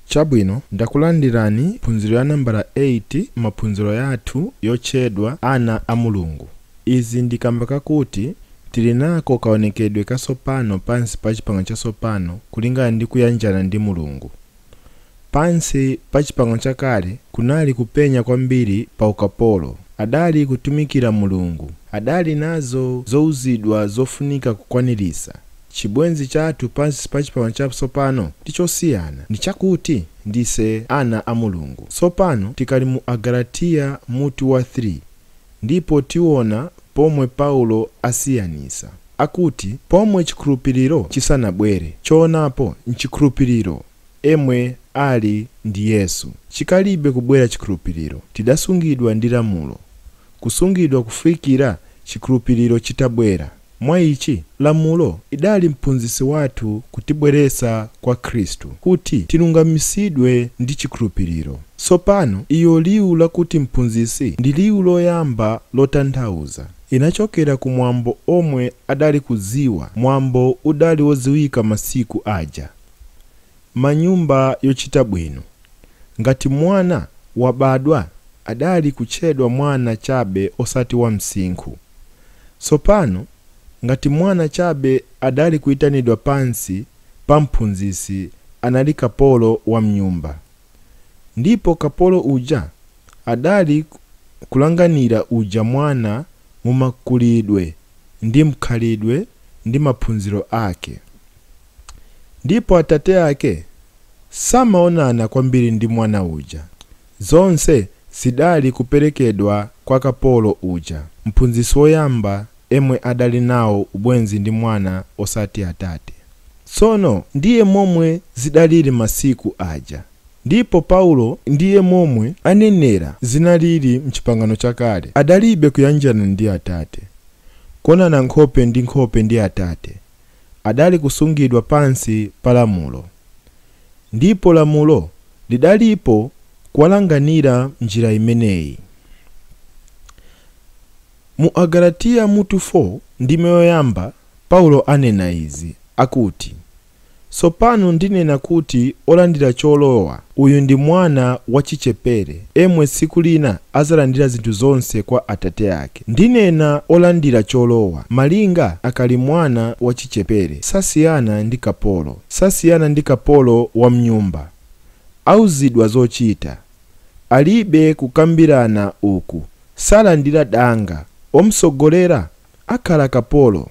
chabwino ndakulandirani phunziro ya nambala 8 m'maphunziro yathu yotchedwa ana a mulungu izi ndi kamba kakuti tili nako kaonekedwe kasopano pansi pa chipangano chasopano kulingana ndi kuyanjana ndi mulungu Pansi pa Chipangano Chakale kunali kupenya kwambiri pa ukapolo. Adali kutumikira Mulungu. Adali nazo zouzidwa zofunika kukwanirisa. Chibwenzi chathu pansi pa Chipangano Chatsopano ndi chosiyana. Ndi chakuti ndise ana a Mulungu. Tsopano tikali mu Agalatiya mutu wa 3 ndipo tiona pomwe Paulo asiyanisa. Akuti pomwe chikhulupiriro chisanabwere, choonapo nchikhulupiriro emwe ali ndi Yesu. Chikalibe kubwera chikhulupiriro, tidasungidwa ndi lamulo, kusungidwa kufikira chikhulupiriro chitabwera. Mwa ichi, lamulo idali mphunzitsi wathu kutibweretsa kwa Khristu, kuti tilungamitsidwe ndi chikhulupiriro. Tsopano iyo liwu lakuti mphunzitsi ndi liwu loyamba lotanthauza. Inachokera ku mwambo omwe adali kudziwa. Mwambo udali wodziwika masiku aja. Manyumba yochita bwino. Ngati mwana wabadwa adali kutchedwa mwana chabe osati wa msinkhu. Tsopano ngati mwana chabe adali kuitanidwa pansi pa mphunzitsi anali kapolo wa mnyumba. Ndipo kapolo uja adali kulanganira uja mwana mu makulidwe ndi mkhalidwe ndi maphunziro ake. Ndipo atate ake samaonana kwambiri ndi mwana uja, zonse zidali kuperekedwa kwa kapolo uja, mphunzitsi woyamba emwe adali nawo ubwenzi ndi mwana osati atate. Tsono ndiye momwe zidaliri masiku aja. Ndipo Paulo ndiye momwe anenera zinaliri m'chipangano chakale adalibe kuyanjana ndi atate, kuonana nkhope ndi nkhope ndi atate, adali kusungidwa pansi pa lamulo. Ndipo lamulo lidalipo kuwalanganira m'njira imeneyi. Mu Agalatiya mutu 4, ndime yoyamba, Paulo anena izi, akuti, Tsopano ndinena kuti olandira cholowa uyu ndi mwana wachichepere emwe tsiku lina adzalandira zinthu zonse kwa atate ake. Ndinena olandira cholowa, malinga akali mwana wachichepere, sasiyana ndi kapolo, sasiyana ndi kapolo wa mnyumba, auzidwa zochita. Alibe kukambirana uku salandira danga womutsogolera akhala kapolo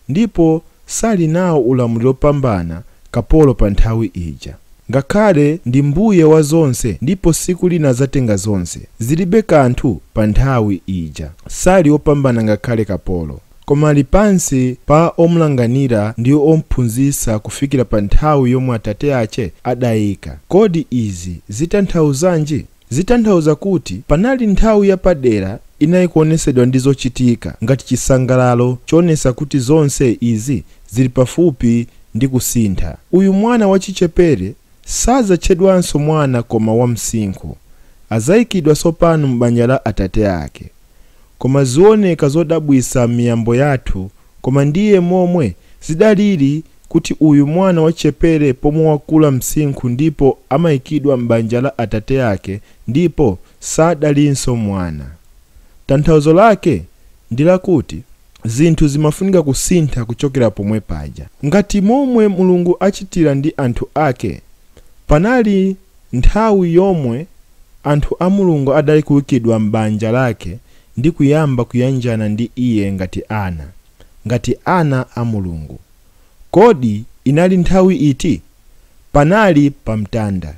ndipo sali nawo ulamuliro opambana kapolo panthawi ija. Ngakhale ndi mbuye wa zonse ndipo tsiku lina adzatenga zonse zilibe kanthu panthawi ija sali opambana ngakhale kapolo. Koma ali pansi pa omlanganira ndi omphunzitsa kufikira pa nthawi yomwe atate ake adaika. Kodi izi zitanthauzanji? Zitanthauza kuti panali nthawi yapadera inai kuonetsedwa ndi zochitika ngati chisangalalo choonetsa kuti zonse izi ziri pafupi ndi kusintha. Uyu mwana wachichepere sadzatchedwanso mwana koma wamsinkhu. Adzaikidwa tsopano m'banja la atate ake. Koma zioneka zodabwitsa m'miyambo yathu koma ndiye momwe zidalili kuti uyu mwana wachichepere pomwe wakula msinkhu ndipo amaikidwa m'banja la atate ake ndipo sadalinso mwana. Tanthauzo lake ndi lakuti zinthu zimafunika kusintha kuchokera pomwe paja. Ngati momwe Mulungu achitira ndi anthu ake panali. Nthawi yomwe anthu a Mulungu adali kuikidwa m'banja lake ndi kuyamba kuyanjana ndi iye ngati ana, ngati ana a Mulungu. Kodi inali nthawi iti? Panali pa mtanda.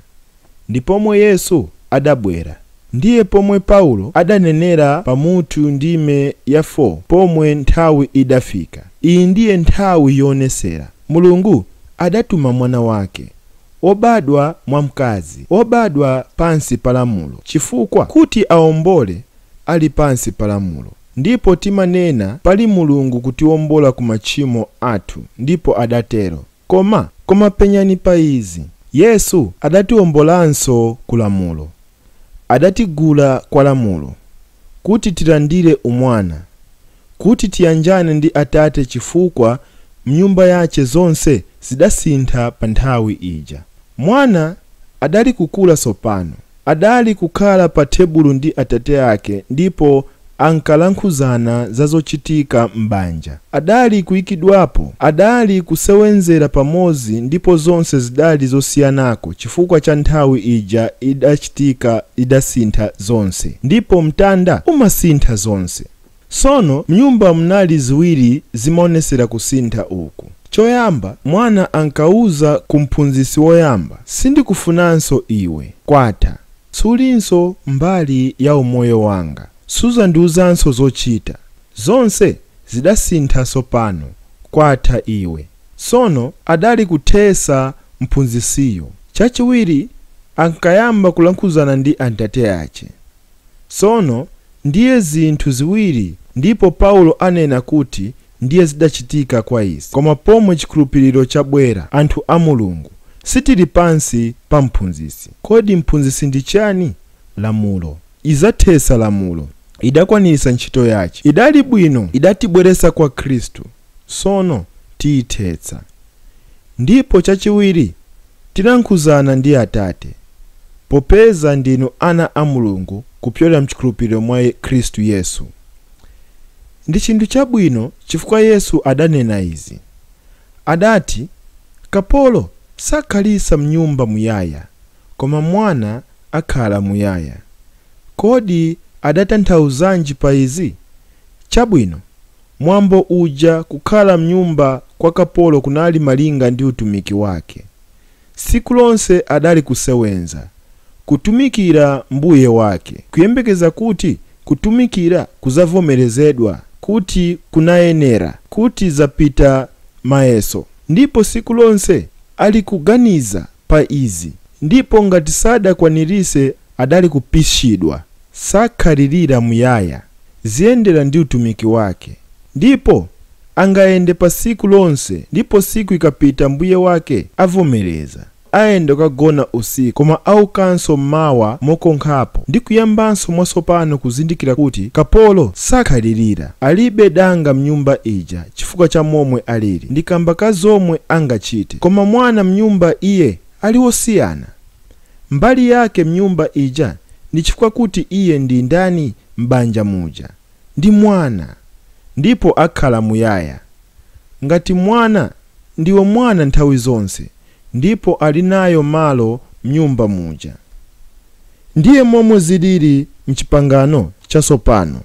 Ndi pomwe Yesu adabwera. Ndiye pomwe Paulo adanenera pa mutu ndime ya 4 pomwe nthawi idafika. Iyi ndiye nthawi yoonetsera. Mulungu adatuma mwana wake. obadwa mwa mkazi, obadwa pansi pa lamulo, chifukwa, kuti awombole, ali pansi pa lamulo. Ndipo timanena, Pali Mulungu kutiwombola ku machimo athu, ndipo adatero. Koma, koma penyani pa izi. Yesu adatiwombolanso ku lamulo. Adatigula kwa lamulo, kuti tilandire umwana, kuti tiyanjane ndi Atate chifukwa m'nyumba yache zonse zidasintha pa nthawi ija. Mwana adali kukula tsopano. Adali kukhala pa thebulo ndi Atate ake ndipo ankalankhulana za zochitika m'banja. Adali kuikidwapo, adali kusewenzera pamodzi ndipo zonse zidali zosiyanako chifukwa cha nthawi ija idachitika idasintha zonse. Ndipo mtanda umasintha zonse. Tsono m'nyumba munali ziwiri zimaonetsera kusintha uku. Choyamba mwana ankauza ku mphunzitsi woyamba, sindikufunanso iwe. Kwatha. Sulinso mbali ya umoyo wanga. Suzandiuzanso zochita. Zonse zidasintha tsopano. Kwatha iwe. Tsono adali kuthetsa mphunzitsiyo. Chachiwiri ankayamba kulankhuzana ndi antate yache. Tsono ndiye zinthu ziwiri ndipo Paulo anena kuti ndiye zidachitika kwa izi. Koma pomwe chikhulupiriro chabwera, anthu a Mulungu sitili pansi pa mphunzitsi. Kodi mphunzitsi ndi chiyani? Lamulo. Idzathetsa lamulo. Idakwanitsa ntchito yache. Idali bwino idatibweretsa kwa Khristu, tsono tiyithetsa. Ndipo chachiwiri, tilankhuzana ndi Atate. Popeza ndinu ana a Mulungu kupyolera m'chikhulupiriro mwa Khristu Yesu. Ndi chinthu chabwino chifukwa Yesu adanena izi. Adati, Kapolo sakhalitsa m'nyumba muyaya, koma mwana akhala muyaya. Kodi adatanthauzanji pa izi? Chabwino, Mwambo uja kukhala mnyumba kwa kapolo kunali malinga ndi utumiki wake. Siku lonse adali kusewenza, kutumikira mbuye wake, kuyembekeza kuti kutumikira kuzavomerezedwa kuti kunayenera, kuti zapita mayeso. Ndipo siku lonse ali kuganiza pa izi, ndipo ngati sadakwanirise adali kupishidwa sakhalilira muyaya ziyendera ndi utumiki wake ndipo angayende pasiku lonse ndipo siku ikapita mbuye wake avomereza ayenda kukagona usiku koma aukanso mmawa mokonkhapo ndi kuyambanso mwasopano kuzindikira kuti kapolo sakhalilira alibe danga mnyumba ija chifukwa cha momwe alili ndi kamba ka zomwe angachite koma mwana mnyumba iye ali wosiyana Mbali yake mnyumba ija ndi chifukwa kuti iye ndi ndani m'banja muja? Ndi mwana. Ndipo akhala muyaya. Ngati mwana, ndiwe mwana nthawi zonse, ndipo ali nayo malo mnyumba muja. Ndiye momwe ziliri m'Chipangano Chatsopano.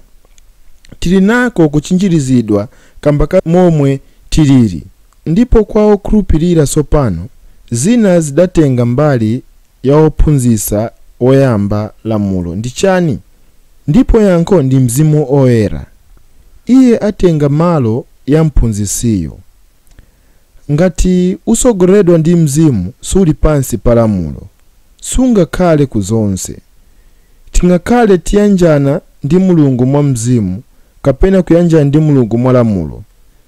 Tiri nako kuchinjirizidwa kamba ka momwe tiliri. Ndipo kwa okhulupirira tsopano, zina zidatenga mbali ya wophunzitsa woyamba lamulo ndi chani? Ndipo yankho ndi Mzimu Oyera. Iye atenga malo ya mphunzitsiyo. Ngati utsogoleredwa ndi Mzimu suli pansi pa lamulo. Sungakhale ku zonse. Tingakhale tiyanjana ndi Mulungu mwa Mzimu kapena kuyanjana ndi Mulungu mwa lamulo.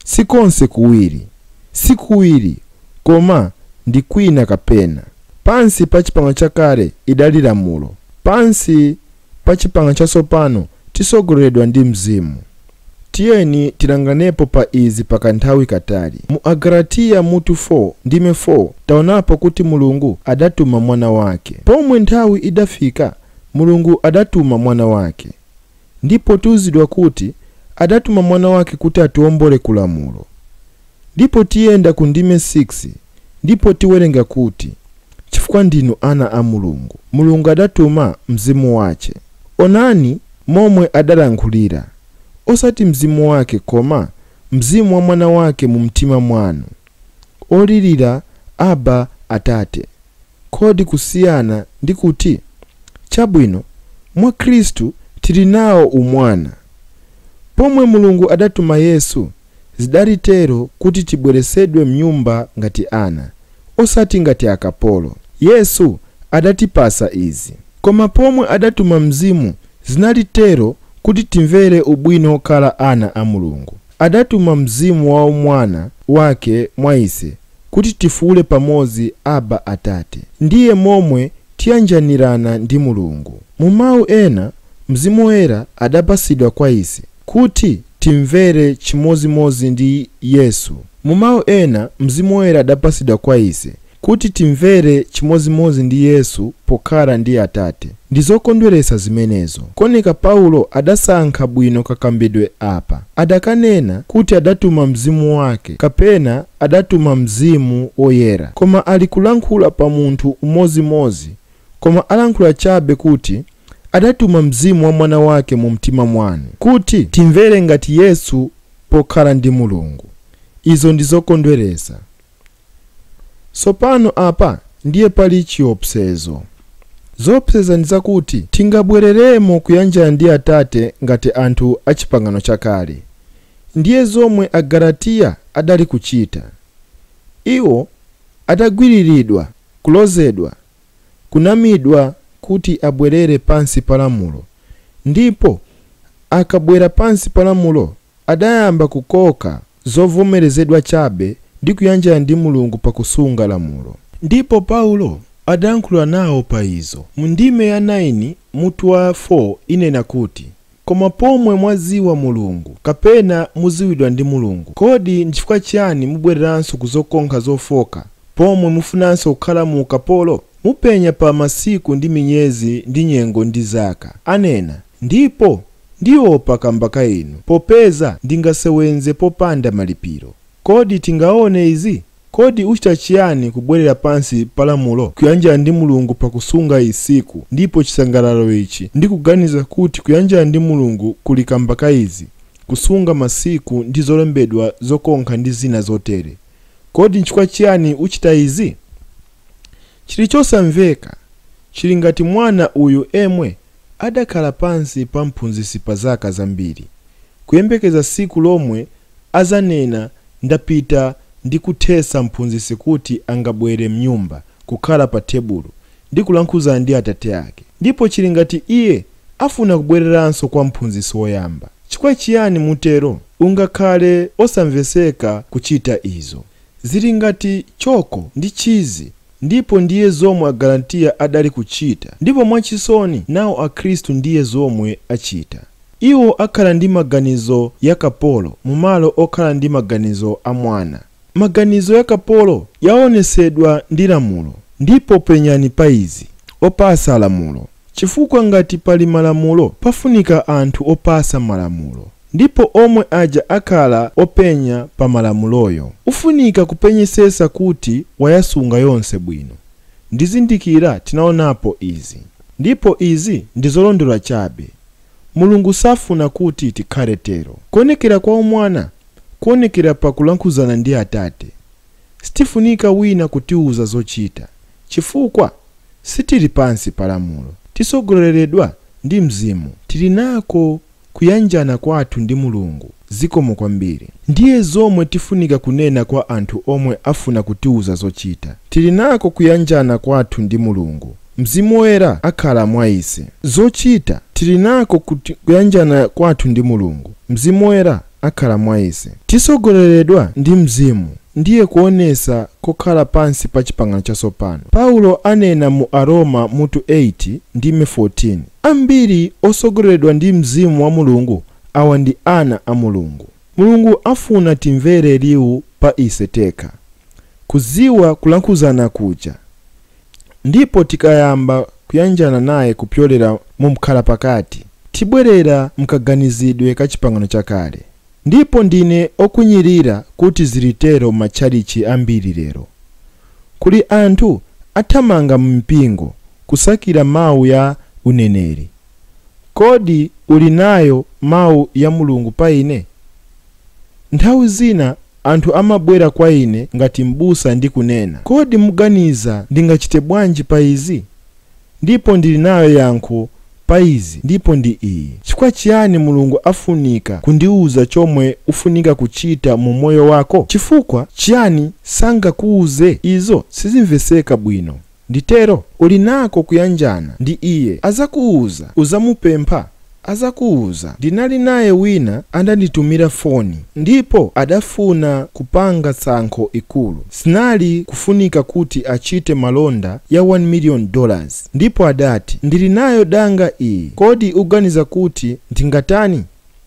Si konse kuwiri, si kuwiri, koma ndi kwina kapena. Pansi pa Chipangano Chakale idali lamulo, pansi pa Chipangano Chatsopano titsogoleredwa ndi Mzimu. Tiyeni tilanganepo pa izi pa kanthawi katali. Mu Agalatiya mutu 4 ndime 4 taonapo kuti Mulungu adatuma Mwana wake. Pomwe nthawi idafika, Mulungu adatuma Mwana wake. Ndipo tiuzidwa kuti adatuma mwana wake kuti atiombole ku lamulo. Ndipo tiyenda ku ndime 6 ndipo tiwerenga kuti chifukwa ndinu ana a Mulungu, Mulungu adatuma Mzimu wache. Onani momwe adalankhulira, osati Mzimu wake koma Mzimu wa mwana wake mu mtima mwanu. olirira Abba, Atate. Kodi kusiyana ndi kuti? Chabwino, mwa Khristu tili nawo umwana. Pomwe Mulungu adatuma Yesu, zidali tero kuti tibweretsedwe mnyumba ngati ana, osati ngati akapolo. Yesu adatipatsa izi. Koma pomwe adatuma Mzimu, zinali tero kuti timvere ubwino wokhala ana a Mulungu. Adatuma Mzimu wa Umwana wake mwa ise, kuti tifuule pamodzi, Abba, Atate. Ndiye momwe tiyanjanirana ndi Mulungu. Mu mau ena, Mzimu Woyera adapatsidwa kwa ise kuti timvere chimodzimodzi ndi Yesu. Mu mau ena, Mzimu Woyera adapatsidwa kwa ise Kuti timvere chimodzimodzi ndi Yesu pokhala ndi Atate. Ndi zokondweretsa zimenezo. Kuoneka Paulo adasankha bwino kakambidwe apa. Adakanena kuti adatuma Mzimu wake kapena adatuma Mzimu Woyera. Koma ali kulankhula pa munthu umodzimodzi koma alankhula chabe kuti adatuma Mzimu wa Mwana wake mu mtima mwanu. Kuti timvere ngati Yesu pokhala ndi Mulungu. Izo ndi zokondweretsa. Tsopano apa ndiye pali chiopsezo. Zoopseza ndi zakuti tingabwereremo kuyanjana ndi Atate ngati anthu a Chipangano Chakale. Ndiye zomwe Agalatiya adali kuchita. Iwo adagwiriridwa, kulozedwa, kunamidwa kuti abwerere pansi pa lamulo, ndipo akabwera pansi pa lamulo adayamba kukoka zovomerezedwa chabe ndi kuyanjana ndi Mulungu pa kusunga lamulo. Ndipo Paulo adayankhula nawo pa izo. Mu ndime ya 9, mutu wa 4 inena kuti, Koma pomwe mwadziwa Mulungu, kapena mudziwidwa ndi Mulungu, kodi n'chifukwa chiyani mubwereranso ku zokonkha zofooka, pomwe mufunanso kukhala mu ukapolo? Mupenya pa masiku ndi minyezi ndi nyengo ndi zaka, anena, ndipo Ndiopa kamba ka inu popeza ndingasewenze popanda malipilo. Kodi tingaone izi? Kodi ucita ciani kubwelela pansi pa lamulo? Kuyanjana ndi Mulungu pa kusunga siku ndipo cisangalalo ici ndi kuganiza kuti kuyanjana ndi Mulungu kuli kamba ka izi, kusunga masiku ndi zolembedwa zokonkha ndi zina zotele. Kodi ncifukwa ciani ucita izi? Cili cosamveka. Cili ngati mwana uyu emwe adakhala pansi pa mphunzisi pa zaka zambiri, kuyembekeza siku lomwe azanena ndapita ndi kuthesa mphunzisi kuti angabwere mnyumba, kukhala pa thebulo, ndi kulankhuzana ndi atate ake. Ndipo chili ngati iye afuna kubwereranso kwa mphunzisi woyamba. Chifukwa chiyani mutero? Ungakhale osamveseka kuchita izo. Zili ngati choko ndi chizi Ndipo ndiye zomwe Agalatiya adali kuchita, ndipo mwachisoni nawo Akhristu ndiye zomwe achita. Iwo akhala ndi maganizo ya kapolo mu malo okhala ndi maganizo a mwana. Maganizo ya kapolo yaonesedwa ndi lamulo. Ndipo penyani pa izi, opasa lamulo, chifukwa ngati pali malamulo pafunika anthu opasa malamulo. Ndipo omwe aja akhala openya pa malamuloyo ufunika kupenyesesa kuti wayasunga yonse bwino. Ndizindikira tinaonapo izi. Ndipo izi ndizolondola chabe. Mulungu safuna kuti tikhale tero. Kuonekera kwa umwana kuonekera pa kulankhuzana ndi Atate. Sitifunika wina kutiuza zochita chifukwa sitiri pansi pa lamulo. Tisogoleledwa ndi Mzimu. Tiri nako kuyanjana kwathu ndi Mulungu. Zikomo kwambiri. Ndiye zomwe tifunika kunena kwa anthu omwe afuna kutiuza zochita. Tili nako kuyanjana kwathu ndi Mulungu. Mzimu Woyera akhala mwa ise. Zochita, Tili nako kuyanjana kwathu ndi Mulungu. Mzimu Woyera akhala mwa ise. Tisogoleledwa ndi Mzimu ndiye kuonesa kokhala pansi pa Chipangano Chasopano. Paulo anena mu Aroma mutu 8 ndime 14, Ambiri osogoleledwa ndi Mzimu wa Mulungu awa ndi ana a Mulungu. Mulungu afuna timvere liu pa ise tekha, kuziwa kulankhuzana kuja. Ndipo tikayamba kuyanjana naye kupyolera mu mkhalapakati, tibwerera mkaganizidwe ka Chipangano Chakale. Ndipo ndine okwinyirira kuti ziri tero m'matchalitchi ambiri lero. Kuli anthu athamanga mu mipingo kusakira mau ya uneneri, Kodi uli nayo mau ya Mulungu pa ine? Nthawi zina Anthu amabwera kwa ine ngati m'busa ndi kunena, Kodi muganiza ndingachite bwanji pa izi? Ndipo ndili nayo yankho pa izi ndipo ndi iyi. Chifukwa chiyani Mulungu afunika kundiuza chomwe ufunika kuchita mu umoyo wako? Chifukwa chiyani sangakuuze? Izo sizimvetseka bwino. Nditero? Uli nako kuyanjana ndi iye, azakuuza, uzamupempha, azakuuza. Ndinali naye wina andanditumira foni ndipo adafuna kupanga tsankho ikulu. Zinali kufunika kuti achite malonda ya 1 million dollars ndipo adati ndili nayo danga iyi kodi uganiza kuti ndingatani?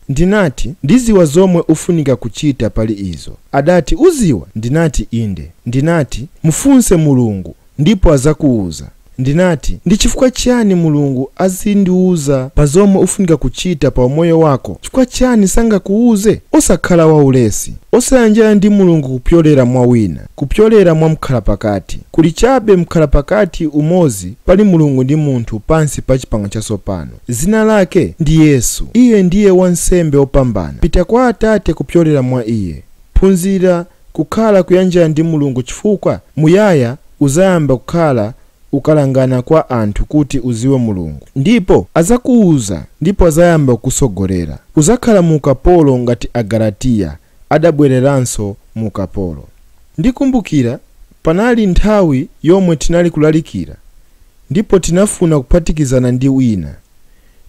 Ndinati, Ndiziwa zomwe ufunika kuchita pali izo. Adati, Uziwa? Ndinati, Inde. Ndinati, Mufunse Mulungu ndipo azakuuza. Ndinati, Ndichifukwa chani Mulungu azindiuza pa zomwe ufunika kuchita pa umoyo wako? Chifukwa chani sangakuuze? Osakhala waulesi. Osayanjana ndi Mulungu kupyolera mwa wina, kupyolera mwa mkhalapakati. Kuli chabe mkhalapakati umozi pali Mulungu ndi munthu pansi pa Chipangano Chatsopano. Zina Lake ndi Yesu. Iye ndiye Wansembe Wopambana. Pita kwa Atate kupyolera mwa Iye. Phunzira kukhala kuyanjana ndi Mulungu chifukwa muyaya uzayamba kukhala ukalangana kwa anthu kuti uziwe Mulungu. Ndipo azakuuza ndipo azayamba kukusogolera. Uzakhala mu ukapolo ngati Agalatiya adabwereranso mu ukapolo. Ndikumbukira panali nthawi yomwe tinali kulalikira Ndipo tinafuna kuphatikizana ndi wina.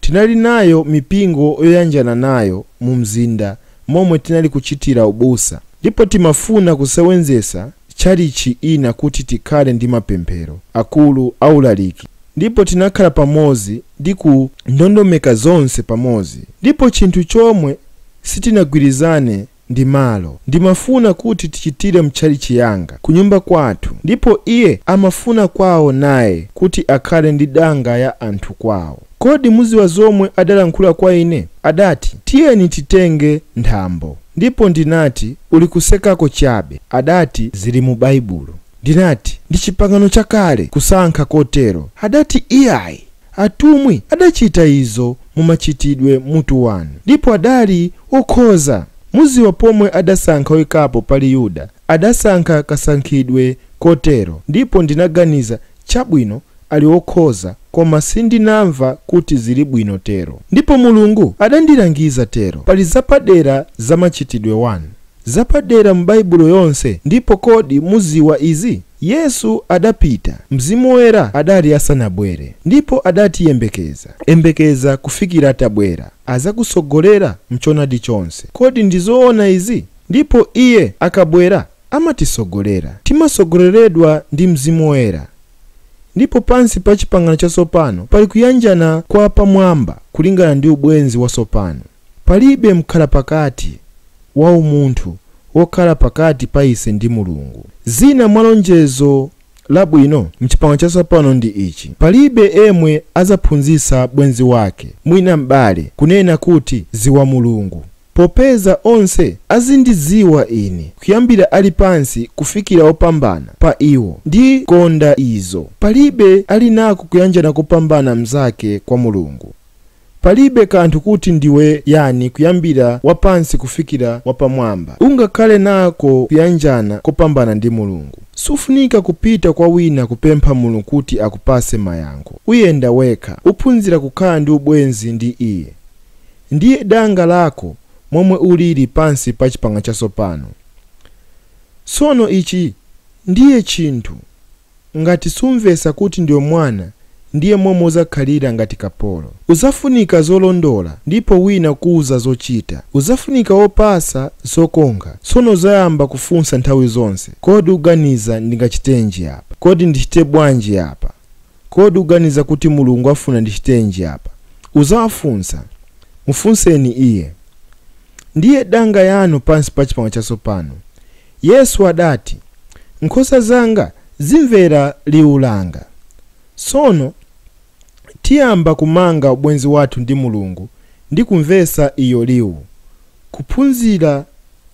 Tinali nayo mipingo yoyanjana nayo mu mzinda momwe tinali kuchitira ubusa. Ndipo timafuna kusewenzesa chalichi ina kuti tikhale ndi mapemphero, akulu a ulaliki. Ndipo tinakhala pamozi ndi kundondomeka zonse pamozi. Ndipo chinthu chomwe sitinagwirizane ndi malo. Ndimafuna kuti tichitire mutchalitchi yanga, kunyumba kwathu, ndipo iye amafuna kwawo naye kuti akhale ndi danga ya anthu kwawo. Kodi mudziwa zomwe adalankhula kwa ine? Adati, Tiyeni titenge nthambo. Ndipo ndinati, Uli kusekako chabe. Adati, Zili mu Baibulo. Ndinati, Ndi Chipangano Chakale kusankha kotero. Adati, Iyayi! Atumwi adachita izo mu Machitidwe mutu 1 ndipo adali okhoza. Muziwa pomwe adasankha oikapo pali Yuda adasankha kasankhidwe kotero ndipo ndinaganiza chabwino ali okhoza koma sindinamva kuti zili bwino tero ndipo Mulungu adandilangiza tero pali zapadera za Machitidwe 1. Zapadera mu Baibulo yonse ndipo kodi muziwa izi? Yesu adapita, Mzimu Woyera adali asanabwere ndipo adati yembekeza, yembekeza kufikira atabwera, azakutsogolera mchonadi chonse. Kodi ndi zoona izi? Ndipo Iye akabwera amatitsogolera. Timatsogoleredwa ndi Mzimu Woyera. Ndipo pansi pa Chipangano Chatsopano pali kuyanjana kwa pamwamba kulingana ndi ubwenzi watsopano. Palibe mkhalapakati wa umunthu wokhala pakati pa ise ndi Mulungu. Zina mwa lonjezo labwino m'Chipangano Chatsopano ndi ichi, Palibe emwe adzaphunzitsa bwenzi wake, mwina m'bale, kunena kuti, Dziwa Mulungu, popeza onse azindidziwa ine, kuyambira ali pansi kufikira wopambana pa iwo. Ndi konda izo. Palibe ali nako kuyanjana kopambana mzake kwa Mulungu. Palibe kanthu kuti ndiwe yani kuyambira wapansi kufikira wapamwamba, ungakhale nako kuyanjana kopambana ndi Mulungu. Sufunika kupita kwa wina kupempha Mulungu kuti akupase mayankho. Uyenda wekha. Uphunzira kukhala ndi ubwenzi ndi iye. Ndiye danga lako momwe uliri pansi pa Chipangano Chatsopano. Tsono ichi ndiye chinthu. Ngati sumvetsa kuti ndiwe mwana, ndiye momwe uzakhalira ngati kapolo. Uzafunika zolondola, ndipo wina kukuuza zochita. Uzafunika wopatsa zokonga, tsono uzayamba kufunsa nthawi zonse, Kodi uganiza ndingachitenji apa? Kodi ndichite bwanji apa? Kodi uganiza kuti Mulungu afuna ndichitenji apa? Uzawafunsa. Mufunseni Iye. Ndiye danga yanu pansi pa Chipangano Chatsopano. Yesu adati, Nkhosa zanga zimvera liwu langa. Tsono tiyamba kumanga ubwenzi wathu ndi Mulungu ndi kumvetsa iyo liwu, kuphunzira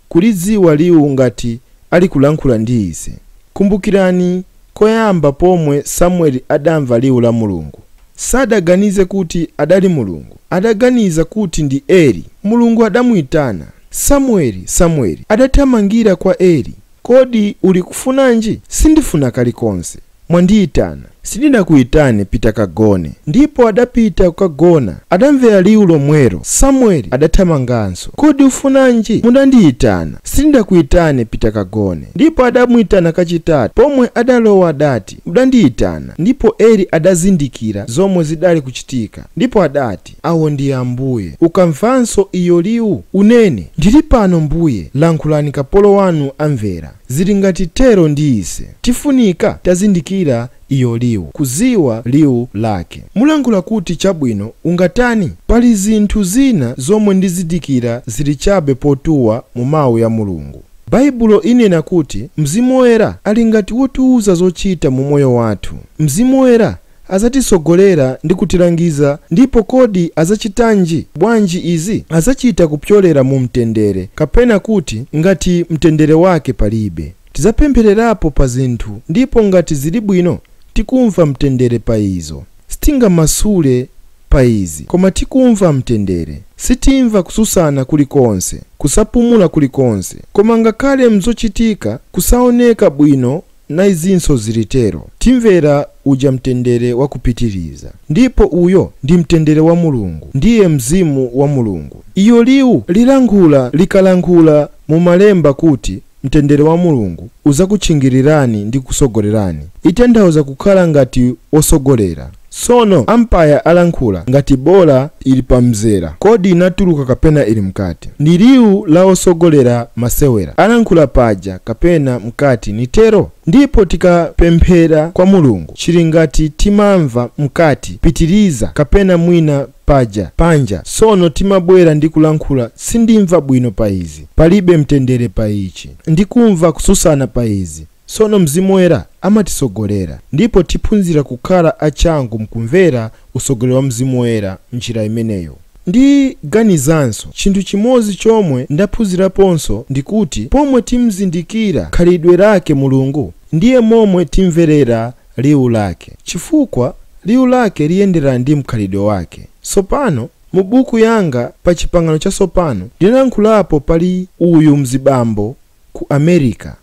kulidziwa liwu ngati alikulankhula ndi ise. Kumbukirani koyamba pomwe Samueli adamva liwu la Mulungu. Sadaganize kuti adali Mulungu. Adaganiza kuti ndi Eli. Mulungu adamuitana, Samueli, Samueli. Adathamangira kwa Eli. Kodi ulikufunanji? Sindifuna kalikonse. Mwandiitana. Sindidakuitane, pita kagone. Ndipo adapita kukagona. Adamvera liwu lomwelo. Samueli adathamanganso. Kodi ufunanji? Mudandiitana. Sindidakuitane, pita kagone. Ndipo adamuitana kachitatu. Pomwe adalowa adati. Mudandiitana. Ndipo Eli adazindikira zomwe zidali kuchitika, ndipo adati, Awo ndi Ambuye. Ukamvanso iyo liwu, unene, Ndiri pano, Mbuye, lankhulani kapolo wanu amvera. Ziri ngati tero ndi ise. Tifunika tazindikira iyo liwu, kudziwa liwu lake. Mulankhula kuti, Chabwino, ungatani? Pali zinthu zina zomwe ndizindikira ziri chabe potuwa mu Mawu ya Mulungu. Baibulo inena kuti Mzimu Woyera ali ngati wotiuza zochita mu moyo wathu. Mzimu Woyera adzatitsogolera ndi kutilangiza ndipo kodi adzachitanji, bwanji izi? Adzachita kupyolera mu mtendere kapena kuti ngati mtendere wake palibe. Tidzapemphererapo pa zinthu ndipo ngati zili bwino tikumva mtendere pa izo, sitingamasule pa izi, koma tikumva mtendere. Sitimva kutsutsana kuli konse, kusapumula kuli konse, koma ngakhale m'zochitika kusaoneka bwino na izinso ziri tero, timvera uja mtendere wa kupitiriza, ndipo uyo ndi mtendere wa Mulungu, ndiye Mzimu wa Mulungu. Iyo liwu lilankhula likalankhula mu Malemba kuti, Mtendere wa Mulungu uzakutchingilirani ndi kusogolerani itanthauza kukhala ngati wosogolera. Tsono ampaya alankhula ngati bola ili pa mzera kodi inatuluka kapena ili mkati? Ndi liwu la osogolera masewera alankhula paja kapena mkati nitero? Ndipo tikapemphera kwa Mulungu chili ngati timamva mkati pitiliza kapena mwina paja panja sono timabwera ndi kulankhula sindimva bwino pa izi palibe mtendere pa ichi ndikumva kususana pa izi sono mzimu woyera amatisogolera ndipo tiphunzira kukhala a changu mkumvera usogolero wa mzimu woyera mnjira imeneyo ndiganizanso chinthu chimodzi chomwe ndaphunziraponso ndikuti pomwe timzindikira khalidwe lake mulungu ndiye momwe timverera Liwu Lake. Chifukwa, Liwu Lake liyenderana ndi mkhalidwe Wake. Tsopano, mu buku yanga, pa Chipangano Chatsopano, ndinalankhulapo, pali uyu mzibambo ku Amerika,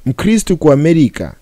Mkhristu ku Amerika,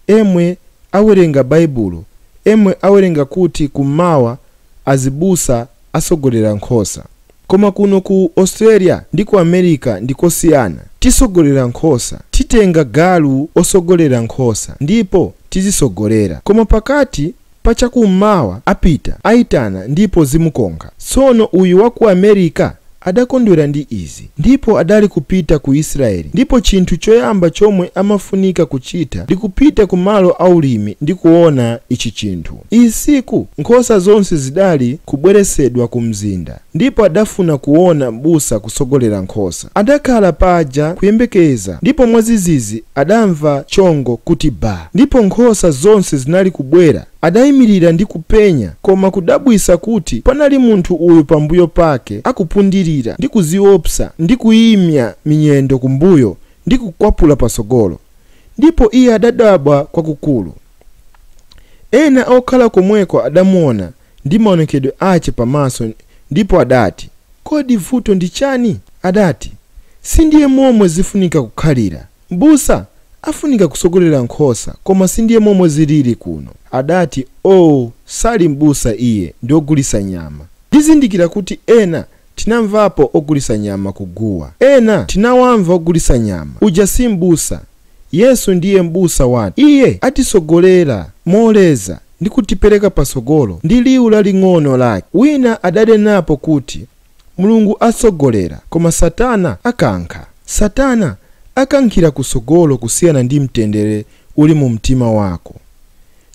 emwe awerenga Baibulo, emwe awerenga kuti Kummawa azibusa atsogolera nkhosa. Koma kuno ku Australia ndi ku America ndi kosiyana. Tisogolera nkhosa. Titenga galu osogolera nkhosa ndipo tizisogolera. Koma pakati pa chakum'mawa apita, aitana ndipo zimukonkha. Tsono uyu wa ku America adakondwera ndi izi ndipo adali kupita ku Israeli ndipo chinthu choyamba chomwe amafunika kuchita ndi kupita ku malo a ulimi ndi kuona ichi chinthu. Usiku nkhosa zonse zidali kubweretsedwa ku mzinda, ndipo adafuna kuona mbusa kutsogolera nkhosa. Adakhala paja kuyembekeza, ndipo mwadzidzidzi adamva chongo kuti ba, ndipo nkhosa zonse zinali kubwera. Adayimilira ndi kupenya, koma kudabwitsa kuti panali munthu uyu pambuyo pake akupundilira ndi kudziopsa ndi kuyimenya minyendo kumbuyo ndi kukwapula patsogolo, ndipo iye adadabwa kwakukulu. Ena okhala komweko adamuona ndi maonekedwe ache pa maso ndipo adati, Kodi vuto ndi chani? Adati, Sindiye momwe zifunika kukhalira. Mbusa afunika kusogolera nkhosa koma sindiye momwe ziliri kuno. Adati, Oo, sali mbusa iye ndi ogulisa nyama. Ndizindikira kuti ena Tinamvapo ogulisa nyama ku guwa. Ena tinawamva ogulisa nyama. Uja si m'busa. Yesu ndiye m'busa wathu. Iye atisogolera moleza ndi kutipereka pasogolo ndi liwu laling'ono lake. Wina adanenapo kuti Mulungu asogolera koma satana akankha. Satana akankhira kusogolo kusiyana ndi mtendere uli mu mtima wako.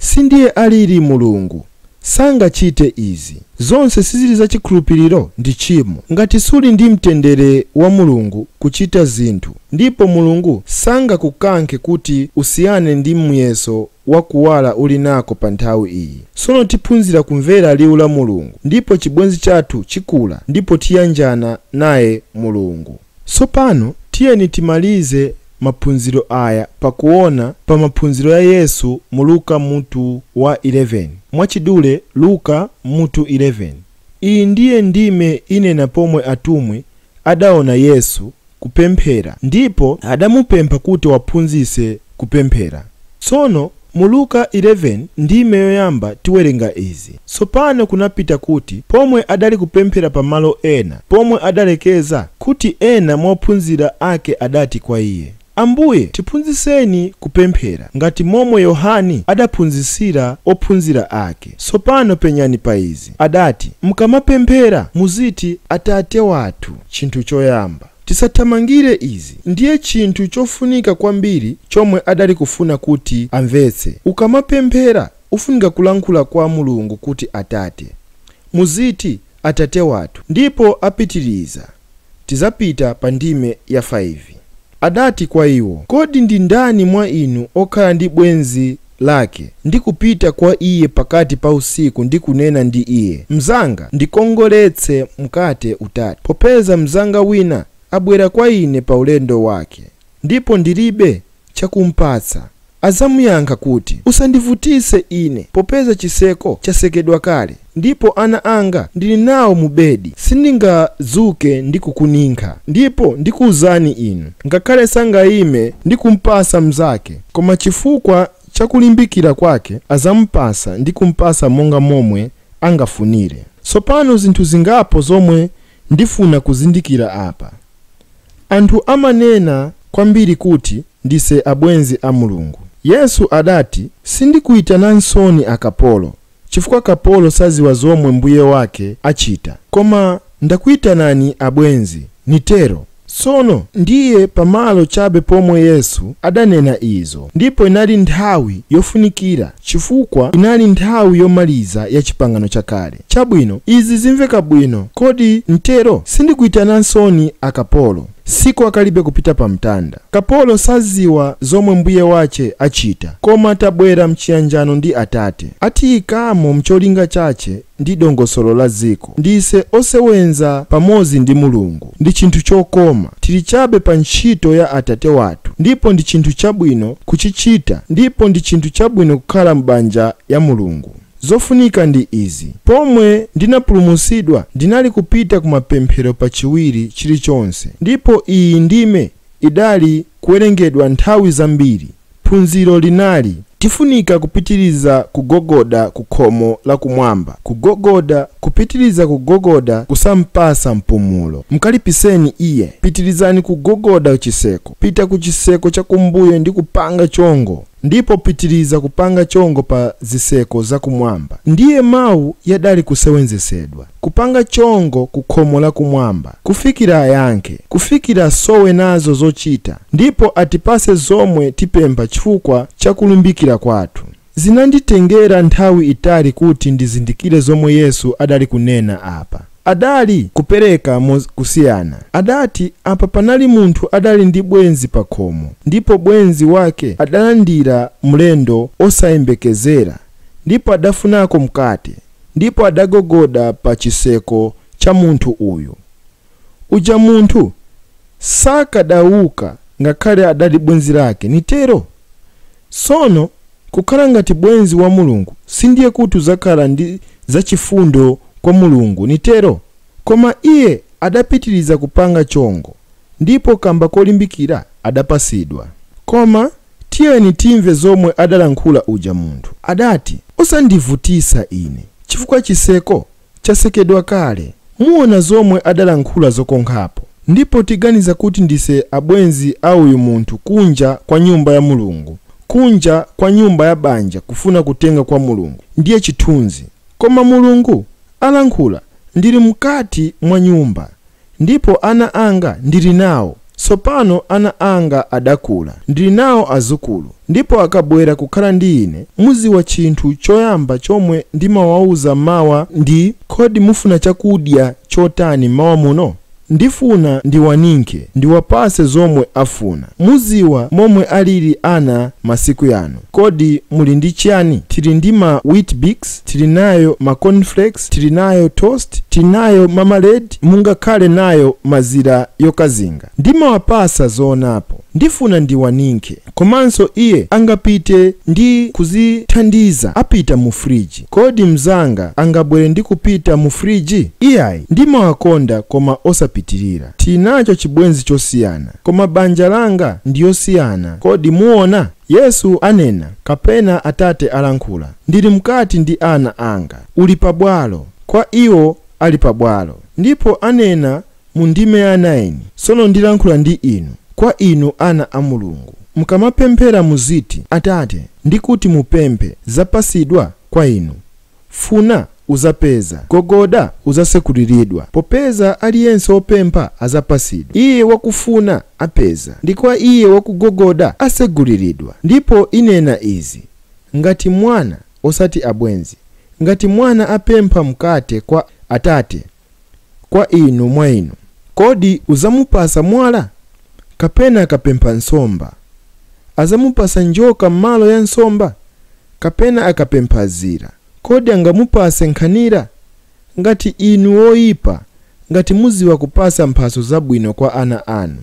Sindiye alili Mulungu. Sangachite izi. Zonse siziri za chikhulupiriro ndi tchimo. Ngati suli ndi mtendere wa Mulungu kuchita zinthu, ndipo Mulungu sangakukankhe kuti usiyane ndi muyeso wa kuwala uli nako pa nthawi iyi. Sono tiphunzira kumvera liwu la Mulungu, ndipo chibwenzi chathu chikula ndipo tiyanjana naye Mulungu. Tsopano tiyeni timalize maphunziro aya pakuona pa maphunziro ya Yesu mu Luka mutu wa 11. Mwachidule Luka mutu 11. Iyi ndiye ndime inena pomwe atumwi adaona Yesu kupemphera ndipo adamupempha kuti awaphunzitse kupemphera. Tsono mu Luka 11 ndime yoyamba tiwerenga izi, Tsopano kunapita kuti pomwe adali kupemphera pa malo ena, pomwe adalekeza, kuti ena mwa ophunzira ake adati kwa Iye, Ambuye, tiphunzitseni kupemphera, ngati momwe Yohane adaphunzitsira ophunzira ake. Tsopano penyani pa izi, adati, Mkamapemphera, muziti, Atate wathu, chinthu choyamba. Tisathamangire izi ndiye chinthu chofunika kwambiri chomwe adali kufuna kuti amvetse. Ukamapemphera ufunika kulankhula kwa Mulungu kuti Atate. Muziti Atate wathu ndipo apitiriza Tizapita pa ndime ya 5. Adati kwa iwo, Kodi ndi ndani mwa inu okhala ndi bwenzi lake, ndi kupita kwa iye pakati pa usiku ndi kunena ndi iye, Mzanga, ndikongoletse mkate utatu, popeza mzanga wina abwera kwa ine pa ulendo wake, ndipo ndiribe chakumpatsa, adzamuyankha kuti, Usandivutise ine, popeza chiseko chasekedwa kale. Ndipo ana anga ndili nawo mu bedi, sindingadzuke ndi kukuninkha. Ndipo ndikuuzani inu, ngakhale sangaime ndi kumpasa mnzake, koma chifukwa cha kulimbikira kwake azamupasa ndi kumpasa monga momwe angafunire. Tsopano zinthu zingapo zomwe ndifuna kuzindikira apa. Anthu amanena kwambiri kuti ndise abwenzi a Mulungu. Yesu adati, Sindikuitananinso akapolo, chifukwa kapolo saziwa zomwe mbuye wake achita. Koma ndakuitanani abwenzi, nitero. Sono ndiye pamalo chabe pomwe Yesu adanena izo, ndipo inali nthawi yofunikira, chifukwa inali nthawi yomaliza ya Chipangano Chakale. Chabwino, izi zimveka bwino, kodi nitero? Sindikuitananinso akapolo. Siku akalibe kupita pamtanda. Kapolo saziwa zomwe mbuye wache achita, koma tabwera mchiyanjano ndi Atate. Atiyikamo mcholinga chache ndi dongosolo la ziko. Ndise osewenza pamozi ndi Mulungu. Ndi chinthu chokoma. Tili chabe pa ntchito ya Atate wathu, ndipo ndi chinthu chabwino kuchichita ndipo ndi chinthu chabwino kukhala m'banja ya Mulungu. Zofunika ndi izi, Pomwe ndinapulumutsidwa ndinali kupita ku mapemphero pa chiwiri chili chonse ndipo iyi ndime idali kuwerengedwa nthawi zambiri. Phunziro linali, Tifunika kupitiriza kugogoda ku khomo la kumwamba, kugogoda, kupitiriza kugogoda kusampasa mpumulo. Mkalipiseni iye. Pitirizani kugogoda chiseko. Pita ku chiseko chakumbuyo ndi kupanga chongo. Ndipo pitiriza kupanga chongo pa ziseko za kumwamba. Ndiye mau yadali kusewenzesedwa, kupanga chongo ku khomo la kumwamba, kufikira ayankhe, kufikira asowe nazo zochita, ndipo atipase zomwe tipempha chifukwa cha kulimbikira kwathu. Zinanditengera nthawi itali kuti ndizindikire zomwe Yesu adali kunena apa. Adali kupereka mo kusiyana. Adati apa panali munthu adali ndi bwenzi pakhomo ndipo bwenzi wake adalandira mlendo osayembekezera ndipo adafunako mkate ndipo adagogoda pa chiseko cha munthu uyu. Uja munthu sakadauka ngakhale adali bwenzi lake, nitero? Sono Kukhala ngati bwenzi wa Mulungu sindiye kuti uzakhala ndi zachifundo kwa Mulungu, nitero? Koma iye adapitiliza kupanga chongo, ndipo kamba kolimbikira adapasidwa. Koma tiyeni timve zomwe adalankhula uja munthu. Adati, Usandivutisa ine chifukwa chiseko chasekedwa kale muona zomwe adalankhula zokonkhapo ndipo tiganiza kuti ndise abwenzi a uyu munthu kunja kwa nyumba ya Mulungu kunja kwa nyumba ya banja kufuna kutenga kwa Mulungu ndiye chithunzi koma Mulungu alankhula ndili mkati mwa nyumba Ndipo ana anga ndili nawo, sopano ana anga adakula, ndili nawo azukulu, ndipo akabwera kukhala ndi ine, muziwa chinthu choyamba chomwe ndimawauza m'mawa ndi, Kodi mufuna chakudya chotani m'mawa muno? Ndifuna ndiwaninkhe, ndiwapase zomwe afuna. Muziwa momwe alili ana masiku yano. Kodi muli ndi chiyani? Tili ndi ma Weet-Bix? tili nayo ma cornflakes, tili nayo toast, tili nayo marmalade, mungakhale nayo mazira yokazinga. Ndimawapasa zoonapo. Ndifuna ndiwaninkhe. Komanso iye angapite ndi kuzithandiza apita mu fridge. Kodi mzanga angabwere ndi kupita mu fridge? Iyayi. Ndimawakonda koma osapitirira. Tili nacho chibwenzi chosiyana. Koma banja langa ndi yosiyana. Kodi muona? Yesu anena, kapena Atate alankhula, Ndili mkati ndi ana Anga. Uli pabwalo. Kwa iwo ali pabwalo. Ndipo anena mu ndime ya 9, Sono ndilankhula ndi inu, kwa inu ana a Mulungu. Mukamapemphera muziti, Atate, ndi kuti mupemphe, zapasidwa kwa inu. Funa, uzapeza. Gogoda, uzasekuliridwa. Popeza aliyense opempha, azapasidwa, iye wakufuna, apeza, ndi kwa iye wakugogoda, aseguliridwa. Ndipo inena izi, ngati mwana, osati abwenzi, ngati mwana apempha mkate kwa atate, kwa inu mwa inu, kodi uzamupasa mwala? Kapena akapempha nsomba, azamupasa njoka m'malo ya nsomba? Kapena akapempha zira, kodi angamupase nkhanira? Ngati inu woyipa, ngati muziwa kupasa mphaso zabwino kwa ana anu,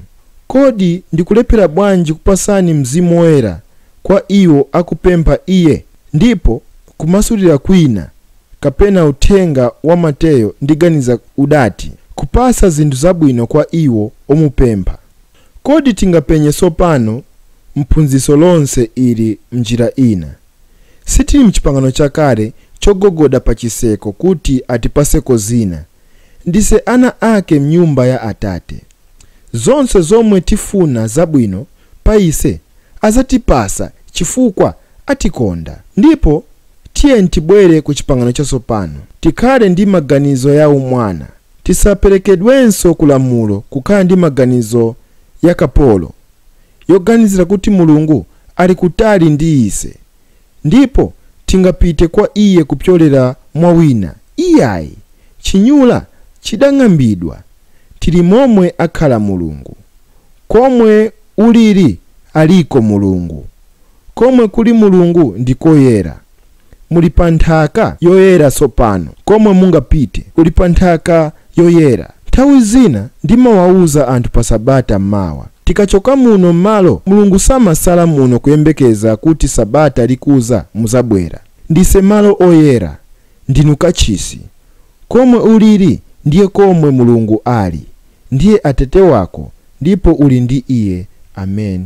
kodi ndikulephera bwanji kupasani Mzimu Woyera kwa iwo akupempha iye? Ndipo kumasulira kwina. kapena uthenga wa Mateyo ndiganiza udati, Kupasa zinthu zabwino kwa iwo omupempha. Kodi tingapenye sopano m'phunziso lonse ili m'njira ina? Sitiri m'Chipangano Chakale chogogoda pa chiseko kuti atipaseko zina. Ndise ana ake m'nyumba ya Atate. Zonse zomwe tifuna zabwino pa ise azatipasa chifukwa atikonda. Ndipo tiyeni tibwere ku Chipangano Chatsopano, tikhale ndi maganizo ya umwana, tisaperekedwenso ku lamulo kukhala ndi maganizo ya kapolo, yoganizira kuti Mulungu ali kutali ndi ise, ndipo tingapite kwa Iye kupyolera mwa wina iyayi. Chinyula chidang'ambidwa. Tili momwe akhala Mulungu. Komwe ulili aliko Mulungu. Komwe kuli Mulungu ndi koyera. Muli pa nthaka yoyera tsopano. Komwe mungapite kuli pa nthaka yoyera. Nthawi zina ndimawauza anthu pa Sabata mmawa, Tikachoka muno mmalo, Mulungu samasala muno kuyembekeza kuti Sabata likudza mudzabwera. Ndise malo oyera. Ndinu kachisi. Komwe uliri, ndiye komwe Mulungu ali. Ndiye Atate wako, ndipo uli ndi Iye. Ameni.